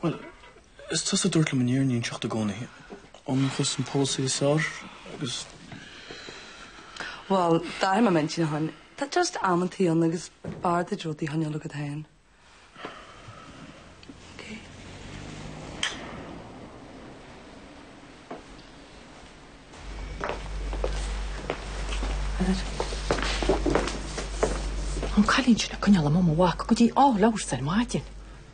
Bhuel, is tusa a dúirt liom an fhírinne a inseacht i gcónaí. Ionracas an polasaí is fearr agus... Bhuel, d'athraigh mé m'intinn ann. Tá just amantaí ann agus b'fhearr duit rudaí a choinneáil agat féin. An cailín sin ag coinneáil amuigh mo mhac go dtí all hours ar maidin.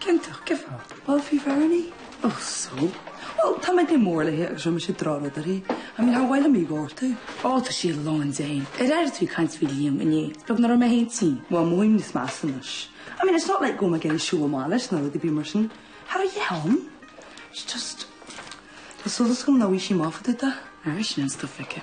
Ciontach, cé faoi? Bhuel, faoi Bherni. Ach so. Bhuel, tá mé go mór léi agus raibh mise ag drá rud uirthi. Bhuel, níor mhaith liom í a ghortú. Ó, tá sí a lán d'éin. Ar airigh tú ag caint faoi Liam inné? Is beag nach raibh mé féin tinn. Bhuel, mothaím níos measa anois. I mean, it's not like go mbeidh mé ag siúl amach leis ná rud ar bith mar sin. Thar a dheich ann. It's just, tá solas agam ná bhí sí maith fadó, dath. Aye, sin an stuff, Vicky.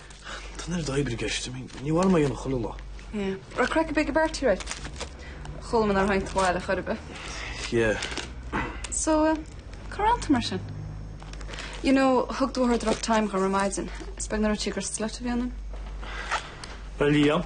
Tá neart oibre i gceist. I mean, ní bheidh mé ann chuile lá. Yeah. Raibh craic ar bith ag an bparty aréir. Chuala mé nár tháinig tú abhaile chor ar bith. Yeah. So, cár fhan tú mar sin? You know, thug do mháthair rough time dhom ar maidin. Is beag nár dhúirt sí gur slut a bhí ionam. Bheadh Liam,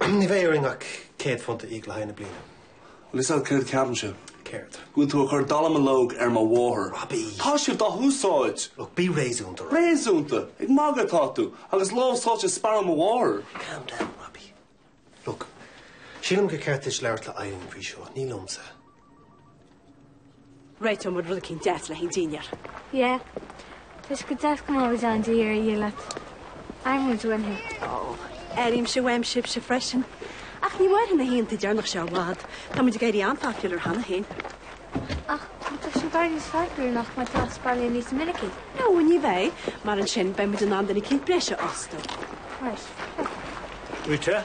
Ní bheidh orainn ach céad phunt a íoc le haghaidh na bliana. Bhuel, is ea, céard a cheapann sibh? Céard? Go bhfuil tú ag cur dallamullóg ar mo mháthair. Robbie! Tá sibh dá húsáid! Look, bí réasúnta, Robbie. Réasúnta? Ag magadh atá tú! Agus lámh sáite i sparán mo mháthar! Calm down, Robbie. Look, sílim gur ceart duit labhairt le Eileen faoi seo, ní liomsa. Réiteoidh muid rud éicint deas le haghaidh an dinnéar. Yeah. Toisc go dteascamóid ann de dheireadh a dhíth leat, airíonn muid uainn thú. Oh, airímse uaim sibhse freisin. Ach ní mairfidh na hoícheantaí deireanacha seo i bhfad. Tá muid ag éirí an-phopular cheana féin. Ach má tá sibh ag éirí níos popular nach mbeidh tú as baile níos minicí? No, ní bheidh. Mar ansin, beidh muid in ann duine éicint breise a fhostú. Right. Rita?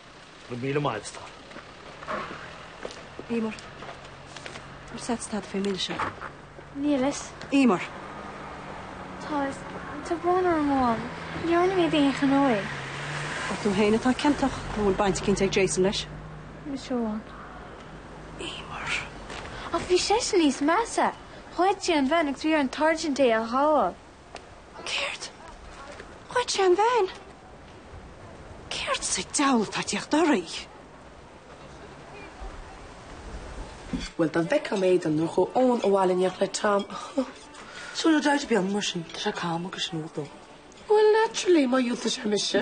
Go raibh míle maith agat. Eimear, Ar seit stad fé mil seo? Níl fhios. Eimear, Tá fhios, tá brón orm Ní dhearna muid d'aon ghnó é. An tú fhéin atá ciontach nó an bhfuil baint eicínt ag Jason leis? Ní hé amháin. Eimear. Ach bhí seisean níos measa. Ghoid sé an veain agus bhí ar an Sáirsint é a ghabháil. Céard? Ghoid sé an veain? Céard sa deabhal tá ag teacht oraibh? Bhuel, dá bhfeicfeá m'éadan nuair a chuaigh Eoin abhaile in éineacht le Tom. Súil le deighilt beag mar sin, tá sé cam agus smooth dó. Well, naturally, má dhiúltaigh sé mise.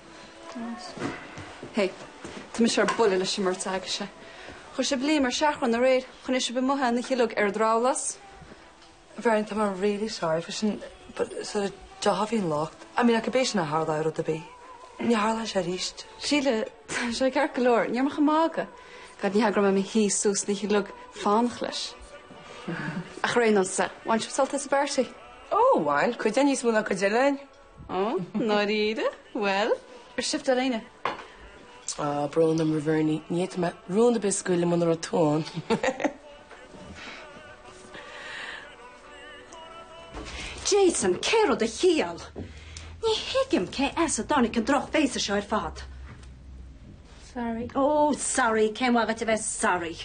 Hé, tá mise ar buile leis an mbeirt agaibhse. Chuir sibh Liam ar seachrán aréir chun é sibh amuigh ina shileog ar dhrabhlás. A Bherni, tá mé really sorry for sin but sort of deá bhí an locht. I mean, acub é sin a tharla ar rud ar bith. Ní tharlóidh sé aríst. Síle, tá sé ceart go leor. Ní raibh mé ach ag magadh. Gad ní hagra mé mi hí sús na shileog fánach leis. Ach ar aon nós ar, bhain sibh sult as, a Bherni? Ó, bhain, cuid againn níos mó ná cuid eile againn. Ó, ndáiríre, bhuel, ar sibh do léine? Ah, brón orm, a Bherni. Ní fhéadfadh mé rún ar bith a scaoileadh muna raibh tú ann. Jason, cé raibh do chiall? Ní thuigim cé as a dtáinig an droch bhéasa seo ar fad. Sorry. Ó, sorry, cén mhaith dhuit a bheith sorry?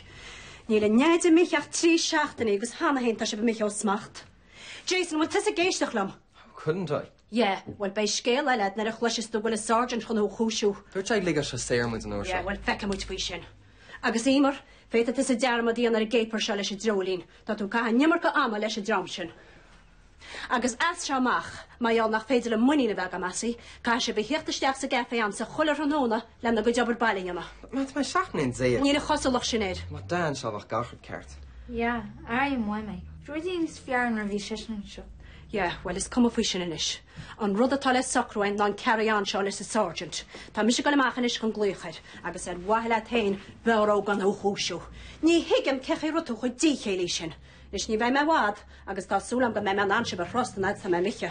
Níl a nDeaid imithe ach trí seachtainí agus cheana féin tá sibh imithe ó smacht. Jason, bhfuil tusa ag éisteacht liom? How couldn't I? Yeah, bhuel beidh scéal eile agat nuair a chloiseas tú go bhfuil an Sergeant chun thú a chúisiú. Dúirt sé go ligfeadh sé saor muid an uair seo. Yeah, bhuel feicfimid faoi sin. Agus Eimear, féadfaidh tusa dearmad a dhéanamh ar an gcéipear seo leis an dreoilín. Tá tú ag caitheamh an iomarca ama leis an dream sin. Agus as seo amach, mar gheall nach féidir liom muinín a bheith agam asaibh, caithfidh sibh a theacht isteach sa gcafé a'msa chuile thráthnóna, lena gcuid obair baile a dhéanamh. Ma, tá mé seacht mbliana déag. Níl an chosúlacht sin air. Dá mbeadh Da anseo bheadh gach rud ceart. Yeah, ara i mhaith mé. Rudaí níos fearr nuair a bhí seisean anseo. Yeah, bhuel is cuma faoi sin anois. An rud atá le socrú againn ná an carry on seo leis an sergeant. Tá mise ag dul amach anois chun glaoch air agus ar mhaithe leat féin b'fhearr dó gan thú a chúisiú. Ní thuigim cén chaoi a raibh tú chomh díchéillí sin. Anois ní bheidh mé i bhfad agus tá súil agam go mbeidh mé in ann sibh a thrust an fhad atá mé imithe.